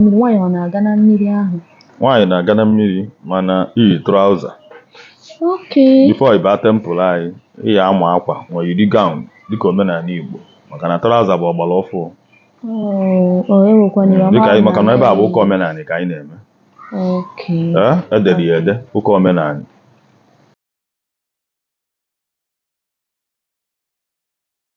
mmiri nwaanyị ọ na-aga na mmiri ahụ nwaanyị na-aga na mmiri mana iyi trouser okay before ịba temple anyị ị ya ama akwa ma yiri gown dịka omenanị Igbo maka na trouser bụ ọgbara ọfụụ Oh, oh, enwekwana ya, ọ dịka anyị maka na ebe a bụ ụka omenanị ka anyị na-eme okay ee edere ya ede ụka omenanị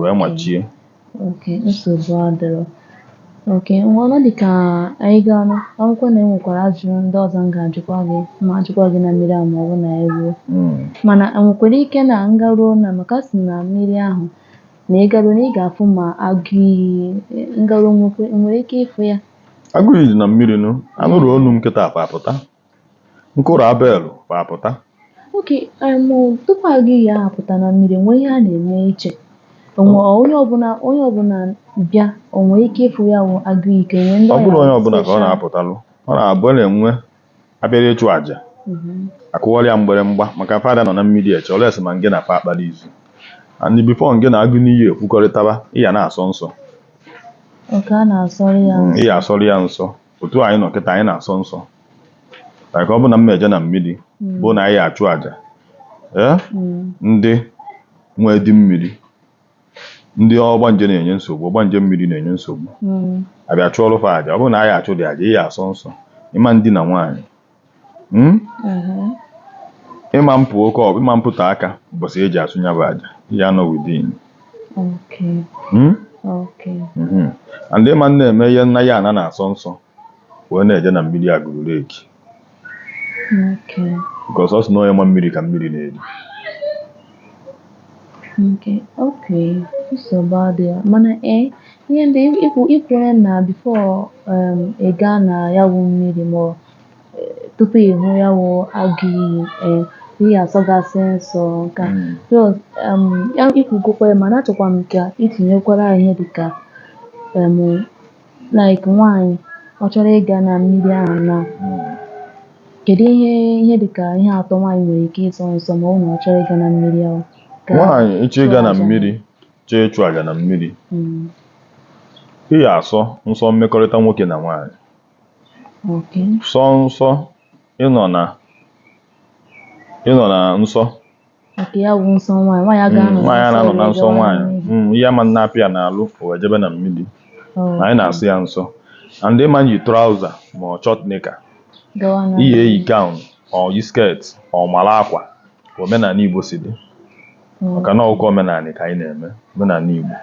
wee machie okay nsogbu adịrọ okay ngwanụ dị ka anyị ga-anụ akụkọ na enwekwara ajụjụ ndị ọzọ m ga-ajụkwa gị ma ajụkwa gị na mmiri ahụ ma ọ bụ na anyị ruo Mm. mana enwekwara ike na m garuo na maka a sị na mmiri ahụ na ị garuo na ị ga-afụ ma agụ iyi m garuo nwekwe- nwere ike ịfụ ya agụ iyi dị na mmiri nụ anụrụ onu m kịta apụ apụta M kụrụ ya bell ọ pụta. okay em, tupu agụ iyi ahụ apụta na mmiri nwee ihe a na-eme iche onwe onye ọbụla onye ọbụla bịa o nwee ike ịfụ ya wụ agụ iyi ka e nwee ndị Ọ bụrọ onye ọbụla ka ọ na-apụtalụ ọ na-abụ na-enwe abịara ịchụ àjà akụwara ya mgbịrịmgba maka fa adị anọ na mmiri eche unless ma ngị na fa kpara izu and before ngị na agụ iyi ekwukọrịtaba ịya na-asọ nsọ okay a na-asọrọ ya nsọ. ịya asọrọ ya nsọ otu anyị nọ kịta anyị na-asọ nsọ like ọ bụ na m eje na mmiri mm. bụ na anyị achụ aja ee mm. ndị nwee di mmiri ndị ọgbanje na-enye nsogbu ọgbanje mmiri na-enye nsogbu mm. abịa chụọrọ fa aja ọ bụrụ na anyị achụ dị aja ị ya asọ nsọ ịma ndina nwaanyị Hmm? Mm-hmm. ịma mpụ okay ịma mpụta aka ụbọchị eji achụ ya bụ aja ị ya anọ within hmm? mm-hmm. and ịma na-eme ihe nna ya ana na-asọ nsọ wee na-eje na mmiri Agulu Lake because a sị na onye ma mmiri ka mmiri na-eri Okay, okay. Nsogbu adịghị. Mana ee, ihe ndị i kwuru na before um, ị gaa na ya wụ mmiri ma ọ eh, tupu ị hụ ya wụ agụ iyi eh, ị ya asọgasị nsọ nke a. Mm. So, um, ya i kwugokwa ya mana achọkwa m ka itinyekwara ihe dịka um, like nwaanyị ọ chọrọ ịga na mmiri ahụ na kedu ihe ihe dịka ihe atọ nwaanyị nwere ike ịsọ nsọ ma ọ na ọ chọrọ ịga na mmiri ahụ nwaanyị ị chọọ ịga na mmiri chọọ ịchụ aja na mmiri hmm. ị ya asọ nsọ mmekọrịta nwoke na nwaanyị sọ nsọ ịnọ na ịnọ na nsọ Nke ya bụ nsọ nwaanyị, nwaanyị a ga-anọ nwaanyị a na-anọ na nsọ nsọ nwaanyị nwaanyị. Mm, ihe ama na-apịa ya n'alụ o wee jebe na mmiri Oh, na anyị na-asọ ya nsọ and ịma yi trouser ma ọ short knicker gawa na- ị ya eyi gown ọ yi skirt ọ mara akwa ka omenanị Igbo si dị Mm. maka na ọ bụ ụka omenanị ka anyị na-eme omenanị Igbo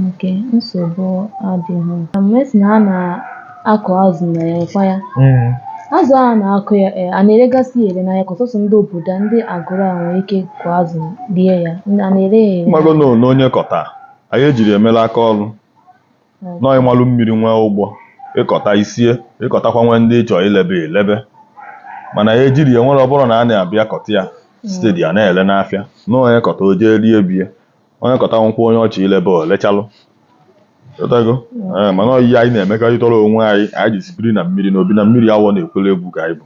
Oke nsogbu adịghị. Na mgbe ị sị na a na-akụ azụ na ya ọkwa ya. Mm. Azụ a na-akụ ya e, a na-eregasị ya ere n'ahịa ka ọ sọsọ ndị obodo a ndị Agulu a nwere ike kụ azụ rie ya. Ndị a na-ere ya ere. Ị mago na ole onye kọta, anyị ejirọ ya mela aka ọrụ. na ị malụ mmiri nwee ụgbọ ị kọta i sie ị kọtakwa nwee ndị ị chọ ilebe i lebe mana anyị ejirọ ya were ọ bụrụ na a na-abịa kọta ya steady a na-ele n'afịa na onye kọta o jee rie bie onye kọta nwekwuo onye ọ chọ ilebe o lechalụ Ịghọtago? Ee, mana ọ ihe anyị na-emekọrịtara onwe anyị anyị ji si biri na mmiri na obi na mmiri awọ na-ekwere egwu ka anyị bụ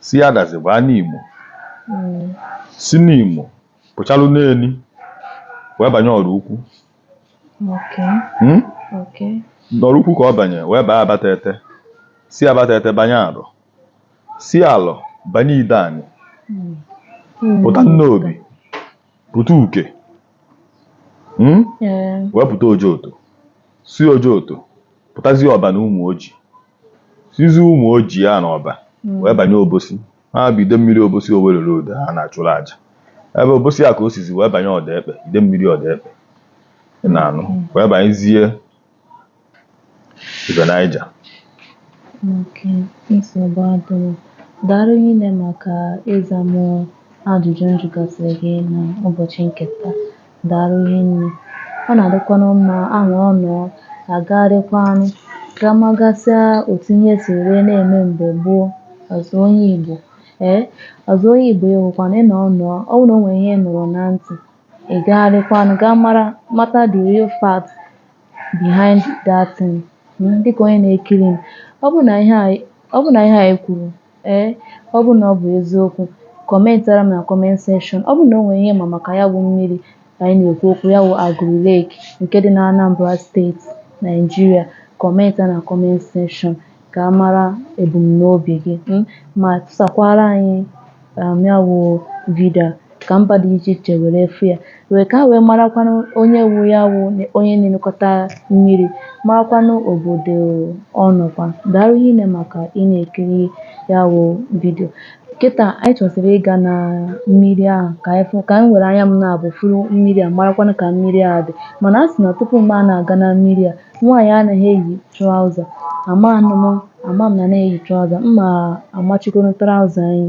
si Adazi baa Nimo Mm. si Nimo pụchalụ Neni wee banye Ọraukwu Okay. Hmm? Okay. n'Ọraukwu ka ọ banye wee baa Abatete si Abatete banye Alọ si Alọ banye Ideani Mm. Mm. pụta Nnobi pụta Uke Hmm? Eh. wee pụta Ojoto si Ojoto pụtazie Ọba na Ụmụoji sizi Ụmụoji ya na Ọba hmm. wee banye Obosi ha bụ Idemmiri Obosi Owerri Road ha na-achụrụ aja ebe Obosi a ka o sizi wee banye Odekpe Idemmiri Odekpe na anụ hmm. wee banyezie River Niger daalụ rinne maka ịza m ajụjụ m jụgasịrị gị n'ụbọchị nke taa Daalụ hinne. Ọ na-adịkwanụ mma a nọọ anọọ a gagharịkwanụ gaa magasịa otu ihe si wee na-eme mgbe gboo ịza onye Igbo ee ịza onye Igbo awụkwanụ ịnọ ọnọ ọ bụrụ na o nwere ihe ị nụrụ na ntị ị gagharịkwanụ gaa mara mata the real fact behind that thing mm, dịka onye na-ekiri m ọ bụrụ na ihe a ọ bụrụ na ihe a e kwuru Ee, ọ bụ na ọ bụ eziokwu, kọmentara m na comment section. Ọ bụ na o nwere ihe ị ma maka ya bụ mmiri anyị na-ekwu okwu ya bụ Agulu Lake nke dị na Anambra State, Nigeria, kọmenta na comment section ka a mara ebumnobi gị hmm, ma tụsakwara anyị um, ya bụ vidio. ka mba dị iche iche were fụ ya ka ha wee marakwanụ onye wu ya wụ onye na-elekọta mmiri marakwanụ obodo ọ nọkwa daalụ rinne maka ị na-ekiri ya wụ vidio kịta anyị chọzịrị ịga na mmiri ahụ ka anyị fụ ka anyị were anya m naabọ fụrụ mmiri a marakwanụ ka mmiri a dị mana a sị na tupu m na-aga na mmiri a nwaanyị anaghị eyi traụza ama m ama m na m na-eyi traụza m ma-amachikọrọ traụza anyị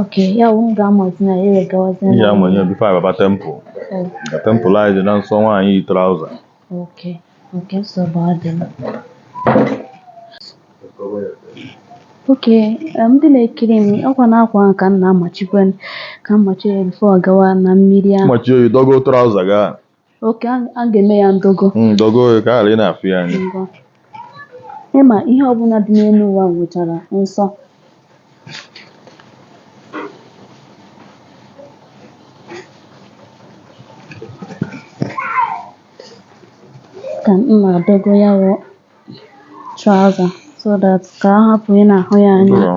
Okay, ya wụ m ga-amazi na ya egawazi Ị ya-ama ihe bifo anyị ababa temple. Ka temple anyị dị na nsọ nwaanyị yi traụza. Oke, oke nsogbu adịghị. Oke, em, ndị na-ekiri m ọkwa na akwa ahụ ka m na-amachikwa ka m machie ya bifo a gawa na mmiri ahụ. Machie oyi dọgo traụza gaa. oke a a ga-eme ya ndogo Mm, dogo ya ka ghara ị na-afụ ya anya ị ma ihe ọbụla dị n'elu ụwa nwechara nsọ ka m na-adogo ya wụ trouser so that ka a hapụ ị na-ahụ ya anya Ndụrọ.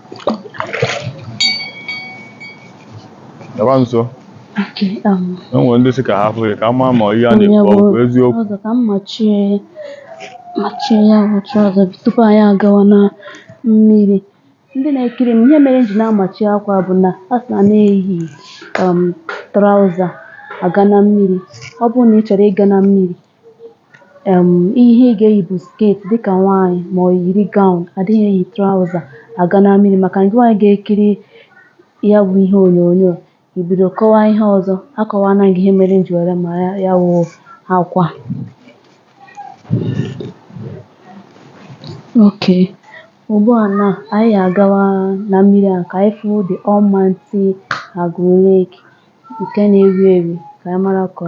Gaba nso. Okay, um, E nwere ndị sị ka ha fụ ya ka a maa ma ihe a na-ekwu ọ bụ eziokwu. ọzọ ka m machie machie ya bụ trouser tupu anyị agawa na mmiri ndị na-ekiri m ihe mere m ji na-amachi akwa bụ na a sị na na-eyi um, trouser aga na mmiri ọ bụrụ na ị chọrọ ịga na mmiri um ihe ị ga-eyi bụ skirt dịkà nwaanyị ma ọ yiri gown adịghị eyi trouser aga na mmiri maka na gị nwa ga-ekiri ya wụ ihe onyonyo i bido kọwa ihe ọzọ akọwaana m gị ihe mere m ji were ma ya wụ akwa oke ugbu a na anyị agawa na mmiri a ka anyị fụ the Almighty Agụlụ Lake nke na-ewi ewi ka anyị mara ka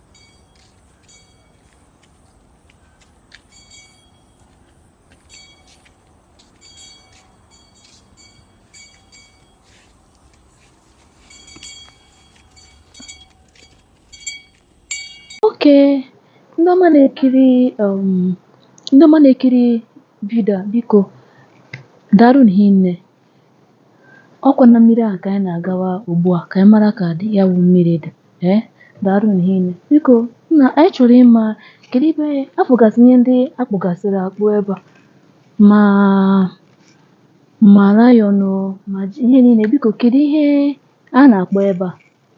Oke, ndị ọma na-ekiri um ndị ọma na-ekiri vidio a biko daalụnụ hinne. Ọ kwa na mmiri a ka anyị na-agawa ugbu a ka anyị mara ka dị ya bụ mmiri dị. Ee, daalụnụ hinne. Biko, nna anyị chọrọ ịma kedu ebe afụgasị ihe ndị a kpụgasịrị akpụ ebe a ma ma lion o ma ji- ihe niile biko kedu ihe a na-akpọ ebe a?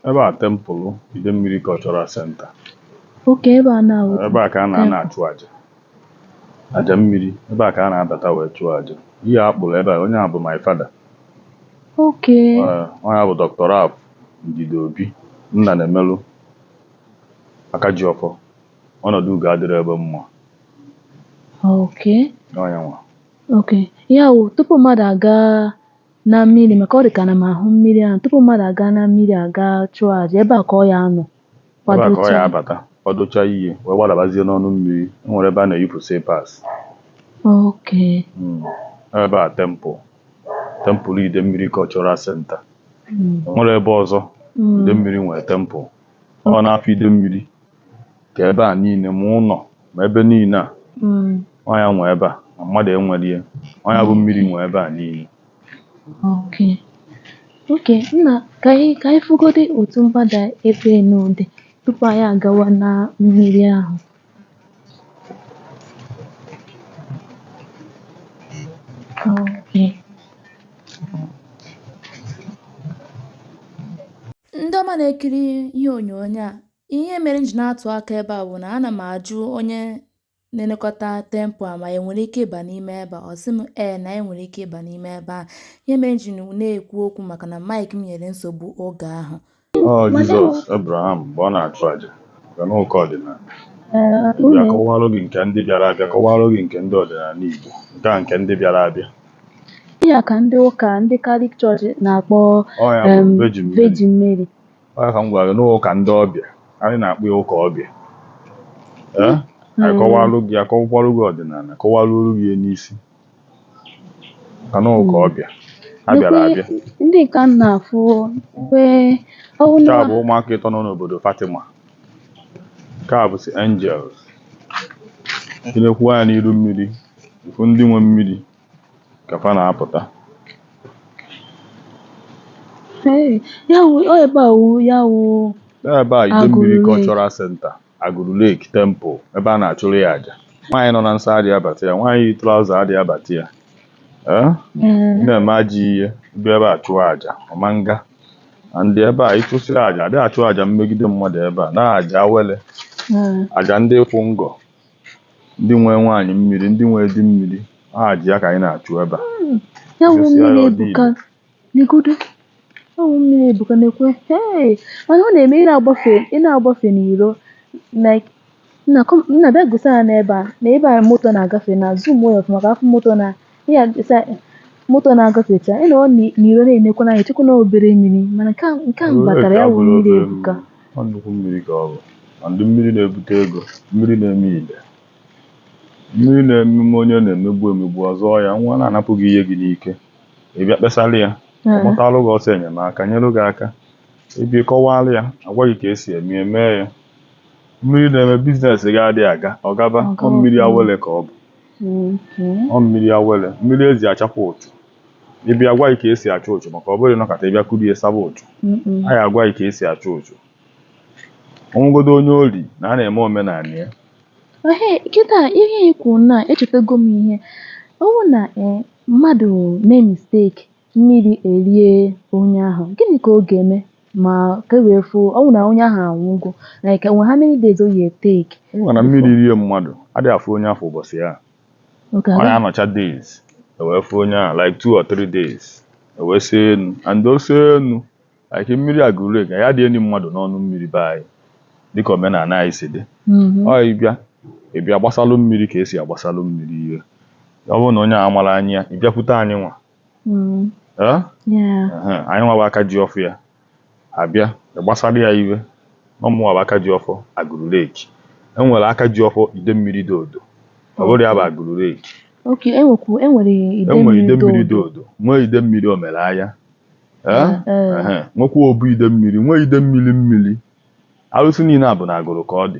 Ebe a temple Idemmiri Cultural Center. Oke ebe a na-awụ. Ebe a ka a na-anọ achụ aja. Aja mmiri. Ebe a ka a na-abata wee chụọ aja. Ihe a kpụrụ ebe a, onye a bụ my father. Oke. Onye a bụ Dr. Ralph Ndidi Obi, nna na-emelụ Akajiọfọ. Ọnọdụ ugo adịrọ egbe mma. Oke. Onye nwa. Oke. Ya wụ tupu mmadụ agaa na mmiri maka ọ dị ka na m ahụ mmiri ahụ tupu mmadụ agaa na mmiri a ga-achụ aja ebe a ka ọ ya-anọ ebe a ka ọ ya-abata kwadocha ihe wee gbadabazie n'ọnụ mmiri e nwere ebe a na-eyipụ slippers oke hmm. ebe a temple temple Idemmiri Cultural Center hmm. nwere ebe ọzọ hmm. Idemmiri nwere temple ọ na-afọ Idemmiri ka ebe a niile ma ụnọ ma ebe niile a ọ ya nwe ebe a ma mmadụ enwerọ ya ọ ya bụ mmiri nwe ebe a niile Okay. Okay, nna ka anyị ka anyị fụgodi otu mgbada ebe nụ dị tupu anyị agawa na mmiri ahụ. Okay. ndị ọma na-ekiri ihe onyonyo a Ihe mere m ji na-atụ aka ebe a bụ na ana m ajụ onye na-elekọta temple a ma e nwere ike ịba n'ime ebe a ọ sị m ee na e nwere ike ịba n'ime ebe a ihe mere m ji na-ekwu okwu maka na mic m nyere nsogbu oge ahụ Ọ Jizọs, Abraham, mgbe ọ na-achụ aja, bịa n'ụka ọdịnala. Bịa kọwalụ gị nke ndị bịara abịa, kọwalụ gị nke ndị ọdịnala Igbo, nke a nke ndị bịara abịa. Ya ka ndị ụka ndị Catholic Church na-akpọ Ọ ya bụ em, Virgin Mary. Virgin Mary. Ọ ka m gwara gị na ụka ndị ọbịa anyị na-akpọ ya ụka ọbịa ee eh? hmm. anyị kọwalụ gị akọwakwalụ gị ọdịnala kọwaruolu gị ya n'isi ka na ụka hmm. ọbịa ha bịara abịa ndị ka m na-afụ nke a bụ ụmụaka ịtọ nọ n'obodo Fatima nke a bụsị Angels tinyekwu anya n'iru mmiri ị fụ ndị nwe mmiri ka fa na-apụta Ee, ya wụ ọ ebe a wụ ya wụ ebe a Idemmiri Agụlụ Lake. cultural center Agụlụ lake temple ebe a na-achụrụ ya aja nwaanyị nọ na nsọ adịghị abata ya nwaanyị yi trouser adịghị abata ya ee ee, ị na-eme ajọ ihe bịa ebe a chụọ aja ọ ma nga ndị ebe a ịchụsịrị aja adịghị achụ aja mmegide mmadụ ebe a na aja awele ee. aja ndị kwụ ngọ ndị nwe nwaanyị mmiri ndị nwe di mmiri aja ya ka anyị na-achụ ebe a hmm. ya wụ mmiri ebuka negodo ya wụ mmiri ebuka nekwe hei mana ọ na-eme ị na-agbafe ị na-agbafe n'iro like nna bịa gosi ha n'ebe a na ebe a moto na-agafe nna zoomuo ya ọfụma ka a fụ moto na ihe a sa moto na-agafecha ị nọrọ n'i- n'iro na-enekwa n'anya chekwa na obere mmiri mana nke a- nke a m batara ya wụ mmiri ebuka Ọ nnukwu mmiri ka ọ bụ and mmiri na-ebute ego mmiri na-eme ile mmiri na-ememe onye a na-emegbu emegbu ọ zọọ ya nwa a na-anapụ gị ihe gị n'ike ị bịa kpesara ya ọ gbatalụ gị ọsọ enyemaka nyere gị aka ị bịa kọwaara ya a gwa gị ka e si eme ya, mee ya mmiri na-eme business gị adịghị aga ọ gaba Ọ ọ gawa. mmiri awele ka ọ bụ ọ mmiri awele mmiri e ji achapụ ụchụ ị bịa a gwa gị ka e si achụ ụchụ maka ọ bụrọ nọkata ị bịa kuru ya saba ụchụ anyị agwa gị ka e si achụ ụchụ ọ wụgodo onye ori na a na-eme omenala ya kịta ihe i kwu na echetago m ihe ọ wụ na eh, mmadụ mee mistake mmiri erie onye ahụ gịnị ka ọ ga-eme maka e wee fụ ọ bụ na onye ahụ anwụgo like enwe how many days ọ ya-etake ị ma na mmiri rie mmadụ adịghị afụ onye afụ ụbọchị ya oke ọ na-anọcha days ewee fụ onye ahụ like two or three days ewee see enu and o see enu like mmiri Agụrụ Lake adị eni mmadụ n'ọnụ mmiri be anyị dịka omenala anyị si dị ọ ịbịa ịbịa gbasalụ mmiri ka esi agbasalụ mmiri ihe ọ bụrụ na onye ahụ mara anyị ya ịbịakwute anyị nwa mm. anyị nwa bụ aka ji ọfọ ya abịa gbasara ya ihe na ọ mụ nwa bụ aka ji ọfọ Agụrụ Lake e nwere aka ji ọfọ Idemmiri Dodo ọ bụrụ ya bụ Agụrụ Lake enwere Idemmiri Dodo nwee Idemmiri Omelaya nwekwa Obu Idemmiri nwee Idemmiri mmiri arụsị niile a bụ na Agụrụ ka ọ dị